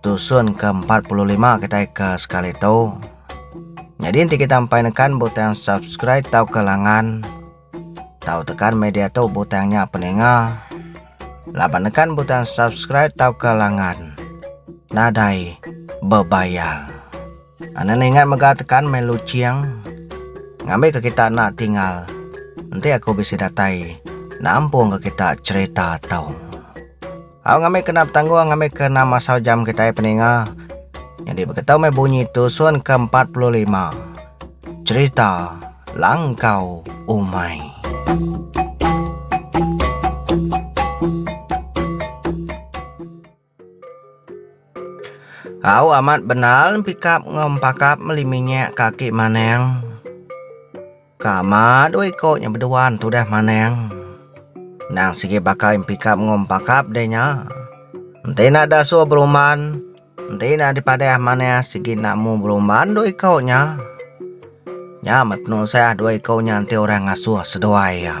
Tusun ke empat puluh lima kitai ke sekali tu. Nyadi enti kita empai nekan butang subscribe tau ke langan tau tekan media tu butang nya peninga. Laban nekan butang subscribe tau ke langan nadai bebayar. Ane ningat mega tekan meh luching ngambi ke kita enda tinggal enti aku bisi datai nampung ke kita cherita tau. Au ngambi kena betanggung ngambi ke enam asau jam kitai peninga. Nyadi beketu meh bunyi tusun ke empat puluh lima. Cerita langkau umai. Au amat benal pikap enggau empakap meli minyek kaki maneng. Ka ma dua iko nya beduan tudah manang. Endang sigi baka impikap enggau empakap deh nya. Enti enda dasuh berumban, enti enda dipadah manah sigi enda mu berumban dua iko nya. Nya meh penusah dua iko nya enti orang ngasuh seduai iya.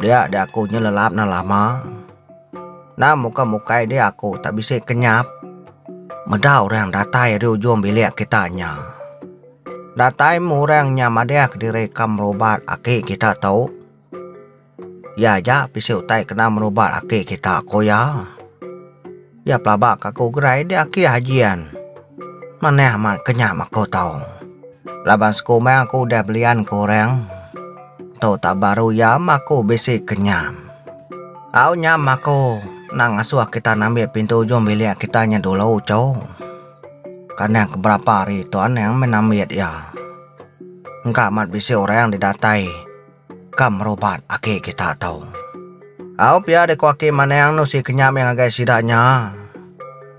Dia dia aku nyelelap na lama. Nah muka mukai dia aku tak bisi kenyap. Meda orang datai ari ujung bilik kita nya. Datai meh orang nya madih kediri ka merubat aki kita tu. Iya aja bisi utai kena merubat aki kita, ku iya. Iya pelaba ka aku gerai di aki Hajian. Manah amat ke nya ba aku tu. Laban siku meh aku udah belian ke orang. Tu tau baru iya meh aku bisi ke nyam. Au nyam meh aku enda ngasuh kita ngambi pintu ujung bilik kita nya dulu cu. Kandang ke berapa hari tu anang meh nambit iya. Engka amat bisi orang didatai. Ka merubat ake kita tau. Au pia deh ko ake maneng no si kenya meh ngagai sida nya.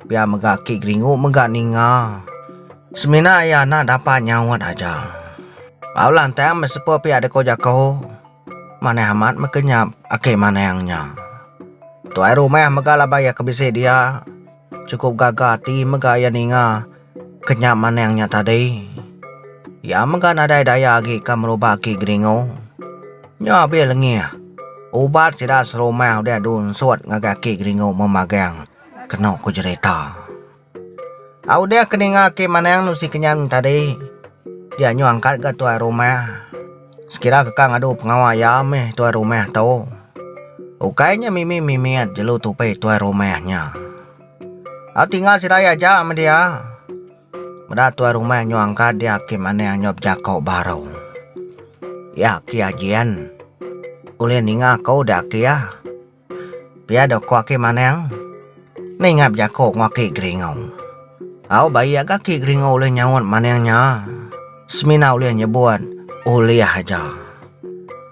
Pia mega ki geringu mega ninga. Semina ia na dapat nyaut aja. Au lantang meh sepo pia deh ko jako. Manah amat meh kenyap ake maneng nya. Tuai rumah mega laban ia ke bisi dia. Chukup gaga ati mega iya ninga ke nya manang nya tadi. Iya mega nadai daya agi ka meruba aki Geringo. Nya be lengih. Ubat sida serumah udah dunsut ngagai aki Geringo memagang, kenu ku jerita. Au deh ke ninga aki Manang nusi kenyan tadi, dia nyuangkat ga tuai rumah. Sekira keka ngadu pengawa iya mih tuai rumah tu, ukai nya mimi mimit jelu tupi tuai rumah nya. A tinggal sida iya aja meh dia. Meda tuai rumah nyuang ka dia agi manah nyop jako baru. Iya agi ajen ulih ninga ko dia agi ah. Pia dok ko aki manang. Ningap jako ngo aki geringau. Au bai aga aki geringau ulih nyaut manang nya. Semina ulih nyebut ulih aja.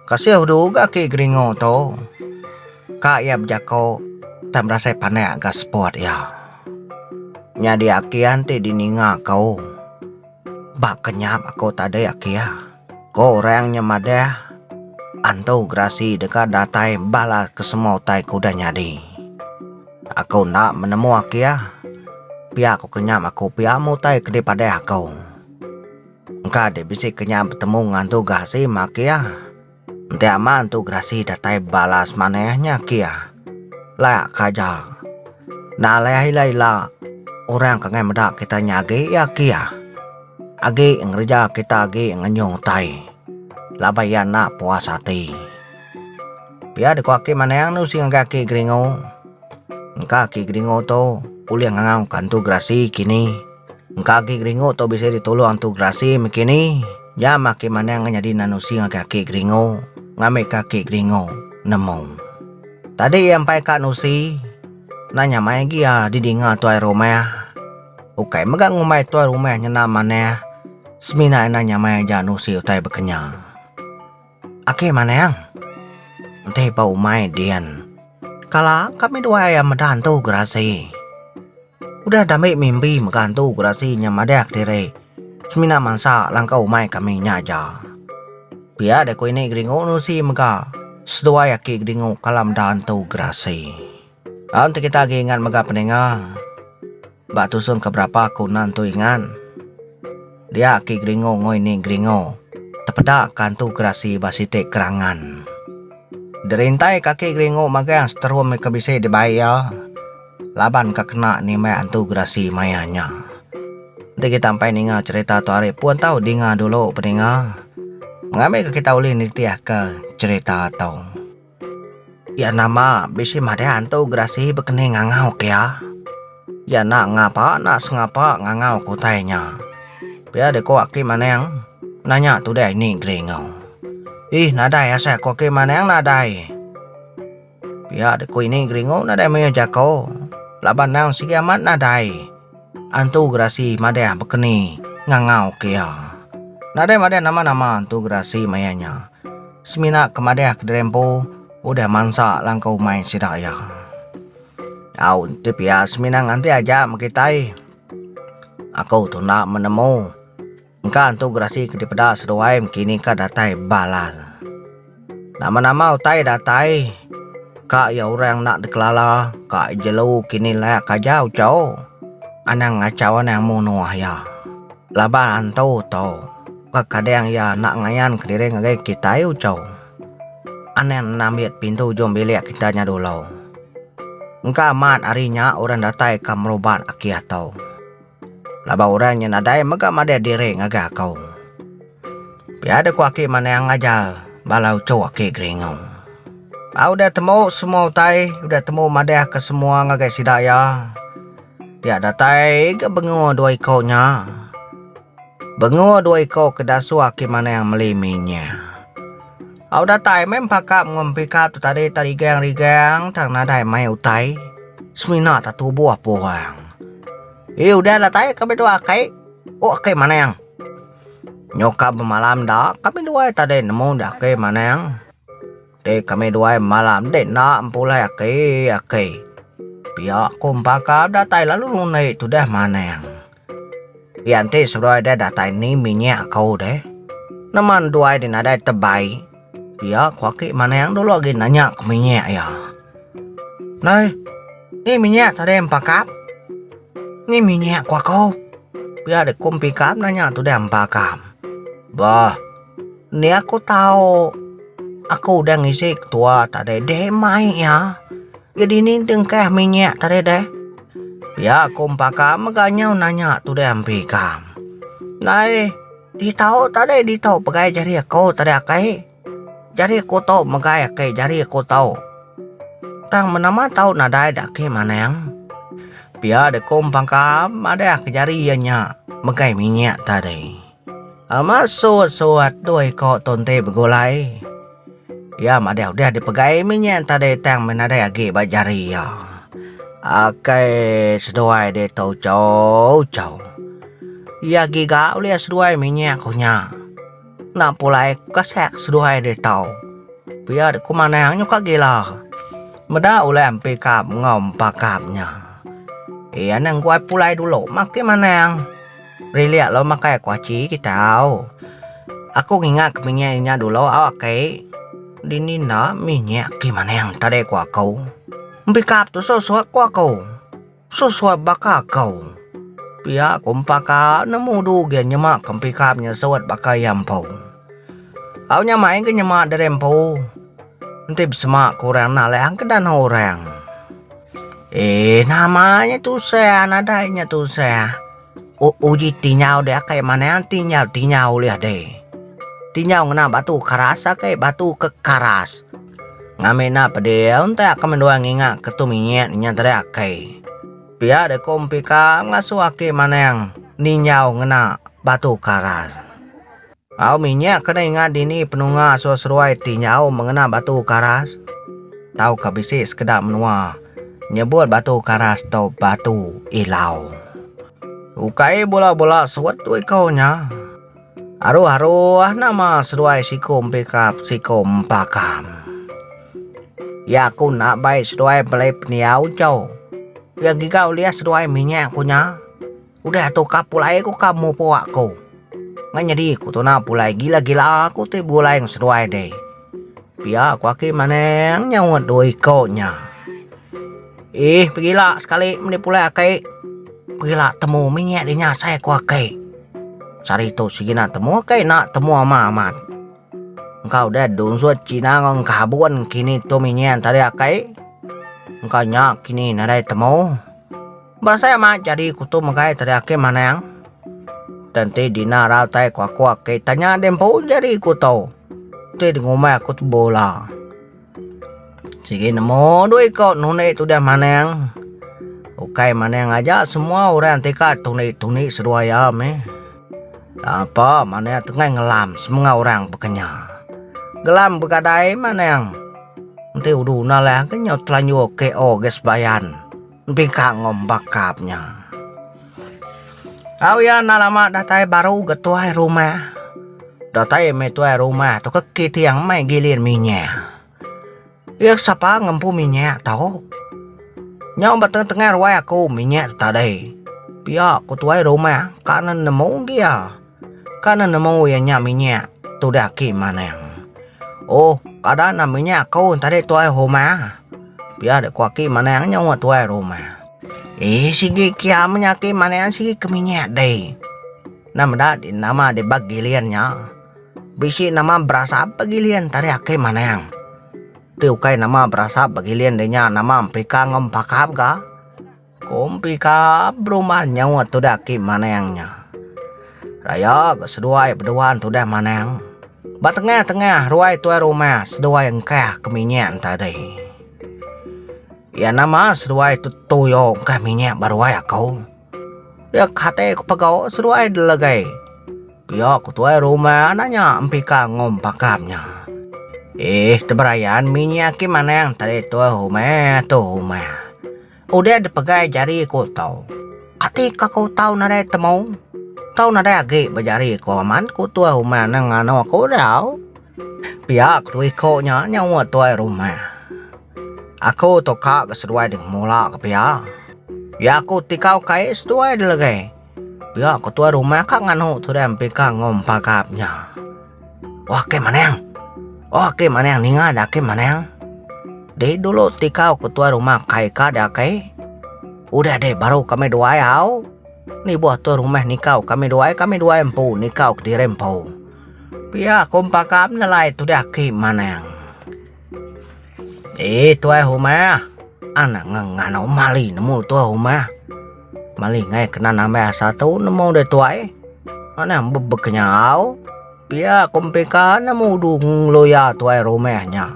Kasih udu ga aki geringau to. Ka ia bejako tang berasai pandak ga spot ia. Nyadi aki anti di ninga ko. Ba kenyap aku tadi aki ya, ko orang nya madah antu gerasi deka datai bala ke semua utai ke udah nyadi. Aku enda menemu aki ya, pia ko kenyap aku pia meh utai ke dipadah aku. Engka deh bisi kenyap betemu ngan antu gerasi meh aki ya. Enti amat entu gerasi datai balas maneh nya kia. Lak ka aja. Enda alih ila-ila orang ke ngai meda kita nya agi iya kia. Agi ngereja kita agi ngenyung utai laban iya enda puas ati. Pia deka ake manang anu si ngagai ake Gringo. Engka ake Gringo tu ulih ngangau ka entu gerasi kini. Engka agi geringu tu bisi ditulung antu gerasi mekini. Nya mah ake manang ngan nyadi nan usi ngagai ake geringu ngambika ake geringu nemu. Tadi iya empai ka nusi nah nya mai agi iya didinga tuai rumah. Ukai mega ngumbai tuai rumah nyenda manah semina enda nya mai aja nusi utai bekenyang. Ake manang. Enti ba umai din. Kala kami dua iya meda antu gerasi. Udah dami mimbi mega antu gerasi nya madah kediri semina mansa langkah umai kami nya aja. Pia deh ku ini Gringo nusi mega seduai aki Gringo kala meda antu gerasi. Lalu enti kita agi ingat mega peninga ba tusung ke berapa aku enda nentu ingat. Dia aki geringo ngoi ni geringo tepeda kantu gerasi ba siti kerangan. Derintai ka aki geringo magang seterum ke bisi dibai iya laban ka kena nimbai antu gerasi maya nya. Enti kita empai ninga cherita tu ari pun tau dinga dulu peninga mengambi ka kita ulih nitih ka cherita tu. Iya nama bisi madah antu gerasi bekening ngangau ke iya. Iya enda ngapa enda sengapa ngangau ke utai nya. Pia deh ku Aki Maneng nanya tudai ni Gringo. Ih nadai asai ku Aki Maneng nadai. Pia deh ku ini Gringo nadai mayuh jako laban endang sigi amat nadai. Antu Gerasi madah bekeni ngangau ke iya. Nadai madah nama-nama Antu Gerasi maya nya. Semina ke madah kediri empu udah mansa langkau umai sida iya. Au enti pia semina nganti aja meh kitai. Aku tu enda menemu. Engka antu gerasi ke dipeda seduai mkini ka datai balan. Nama-nama utai datai ka iya orang enda dikelala ka jelu kini layak aja uco anang ngachau anang munoh iya. Laban antu to ka kadang iya enda ngayan kediri ngagai kitai uco anang enda mit pintu ujung bilik kita nya dulu. Engka amat ari nya orang datai ka merubat aki ato. Laban orang nya nadai mega madah diri ngagai aku. Pia deh ku aki Manang ngajar bala uchu aki Geringu. Ba udah temu semua utai, udah temu madah ke semua ngagai sida iya, dia datai ga bengua dua iko nya. Bengua dua iko ke dasuh aki Manang meli mi nya. Au datai meh empakap enggau empikap tu tadi ta rigang-rigang tang nadai mai utai semina ta tubuh apo orang. Ye udah datai kami dua akai, oh akai maneng. Nyo ka bemalam enda kami duai tadi nemu dah akai maneng. Deh kami duai malam deh enda empulai akai-akai. Pia ku empakap datai lalu ngunde tu deh maneng. Iya enti seduai deh datai ni minyak aku deh. Nama enduai deh nadai tebai. Iya ku aki manang dulu agi nanya ku minyak iya. Nai, ni minyak tadi empa kap? Ni minyak ku aku. Pia deh ku empi kap nanya tu deh empa kap. Bah, ni aku tau. Aku udah ngisi ketua tadi deh mai iya. Ke dini dengkah minyak tadi deh. Pia aku empaka mega nyau nanya tu deh ampi ikam. Nai, ditau tadi ditau pegai jari aku tadi akai. Jari aku tu megai akai jari aku tu. Tang menama tau nadai da ake manang. Pia deh ku empaka madah ke jari iya nya megai minyak tadi. Amat suwut-suwut dua iko tunti begulai. Iya madah udah dipegai minyak entadai tang meh nadai agi ba jari iya. Akai seduai ditu ucau-ucau. Iya giga ulih seduai minyak ku nya. Enda pulai kasek seduai ditu. Pia dek ku manah nyuka gila. Meda ulih empikap enggau empakap nya. Iya neh engguai pulai dulu makin manang. Rili alo makai aku aci kita au. Aku ngingat ke minyak inya dulu au aki. Dini enda minyak ki maning tadi ku aku. Empikap tu susut ku aku. Susut baka aku. Pia ku empa ka nemu du gen nyema ke empikap nyusut baka iya empu. Au nyamai ke nyema diri empu. Enti besema ku orang enda leh angkedan orang. Eeh nama nya tu seh nadai nya tu seh. U uji tinyau deh akai manah tinyau tinyau ulih deh. Tinyau ngena batu karas akai batu ke karas. Ngambie enda pedih onte ke menua nginga ke tu minyak nya tadi akai. Pia deh ko mpi ka ngasoh aki manah ninyau ngena batu karas. Au minyak ke ninga dini penunga seruai-seruai ti nyau mengena batu karas tauka bisi sekeda menua nyebut batu karas tu Batu Ilau. Ukai bula-bula suet tu iko nya. Aruh-aruh nama seduai siku empikap siku empakam. Ya aku enda bai seduai belai pendiau chau. Ya giga ulih seduai minyak ku nya. Udah tu ka pulai ku ka mupo aku. Ngan nyadi ku tuna pulai gila-gila aku ti buleng seduai deh. Pia ku aki maneng nyaut dua iko nya. Ih pegila sekali meli pulai aki. Pegila temu minyak di nya asai ku aki. Sehari tu segina temu aki ena temu ama amat. Engka udah donsut cina ngan kabun kini tu minyak tadi aki. Engka nya kini nadai temu. Ba sai amat jadi kutu megai tadi ake manang te enti dina ra utai kuaku ake tanya di empu jadi kutu ti di ngumbai aku tu bola sigi nemu dua iko nuni ti udah manang ukai manang aja semua orang ti ka tuni tuni seduai iya meh ape manang tu ngai ngelam semua orang ba kenyau ngelam begadai manang enti udu na layan ke nyau telanjur KO ga sebayan. Deka ngombak kap nya. Au iya enda lama datai baru ga tuai rumah. Datai meh tuai rumah tu ke kiting meh gilir minyak. Iya ke sapa ngempu minyak tu. Nyau ba tengah-tengah ruai aku minyak tu tadai. Pia ku tuai rumah ka ne nemu gi iya. Ka ne nemu iya nya minyak tudah ki manang. Oh, kada na minyak aku tadi tuai rumah. Pia dek ku aki manang nyawa tuai rumah. Eh sigi kiam nya aki manang sigi ke minyak deh. Na meda di nama di ba giling nya. Bisi nama berasap ba giling tadi aki manang. Ti ukai nama berasap ba giling de nya nama empika enggau empakap ga. Ku Empi ka berumah nyaut tudah aki Manang nya. Raya ga seduai beduan tudah Manang. Ba tengah-tengah ruai tuai rumah seduai engkah ke minyak tadi. Iya nama seduai tu tuyo engkah minyak ba ruai aku. Iya kate ku pego seduai delegai. Pia ku tuai rumah nanya Empi ka enggau Pakam nya. Eeh teberayan minyak aki Manang tadi tuai rumah tu rumah. Udah dipegai jari ku Tau. Kati ka ku tau nadai temu? Tau nadai agi ba jari ku aman ku tuai rumah nang nganu aku tau. Pia ku tu iko nya nyawa tuai rumah. Aku tu ka ga seduai deh mula ke pia. Ya ku ti kau kai seduai deh legai. Pia ko tuai rumah ka nganu tu deh empi ka ngom pagap nya. Oh ake maneng. Oh ake maneng ninga da ake maneng. Dei dulu ti kau ko tuai rumah kai ka da kai. Udah deh baru kami duai au. Ni boh tuai rumah nikau kami duai kami duai empu nikau kediri empu. Pia kom pagap nelai tu deh ake maneng. Eh tuai humah. Anak ngengano mali nemu tuai humah. Mali ngai kena nambah asa tu nemu deh tuai. Mana be bekenyau. Pia ku mpika nemu du ngeloya tuai rumah nya.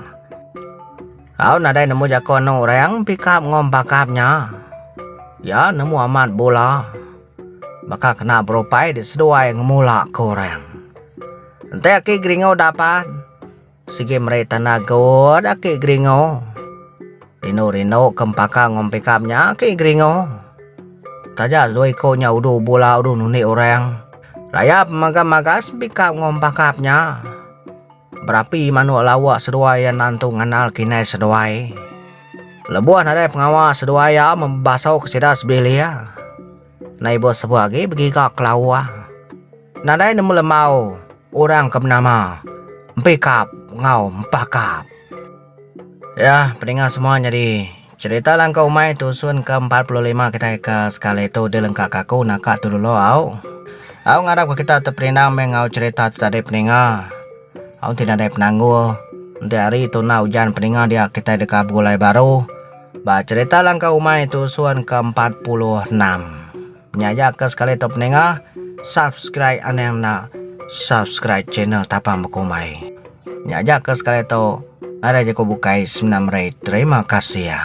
Au nadai nemu jako anu orang mpika ngom bakap nya. Ya nemu amat bula. Baka kena berupai diseduai ngemula ke orang. Enti aki geringu dapat. Sigi meri tanda good aki geringo. Rindu rindu ke empaka enggau empikap nya aki geringo. Taja dua iko nya udu bula udu nundi orang. Rayap maga magas empikap enggau empakap nya. Berapi manuk lauk seduai iya enda entu ngandal kinai seduai. Lebuh nadai pengawa seduai iya mebasau ke sida sebilik. Nai bos sebuah agi begiga kelawa. Nadai nemu lemau orang ke benama Empikap enggau Empakap. Yah peninga semua nyadi cerita langkau umai tusun ke empat puluh lima kitai ke sekali tu dilengka ka aku naka tu dulu au. Au ngarap ka kita teperinang meh enggau cerita tu tadi peninga. Au enti nadai penanggul enti hari tu enda ujan peninga dia kitai deka begulai baru. Ba cherita langkau umai tusun ke empat puluh enam. Nya aja ke sekali tu peninga subscribe anang enda subscribe channel tapang bekumbai. Nya aja ke sekali tu nadai jeku bukai semina meri terima kasih ya.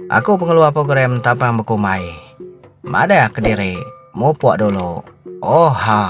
Aku pengeluar program tapang bekumbai. Madah kediri mupuk dulu. Oha.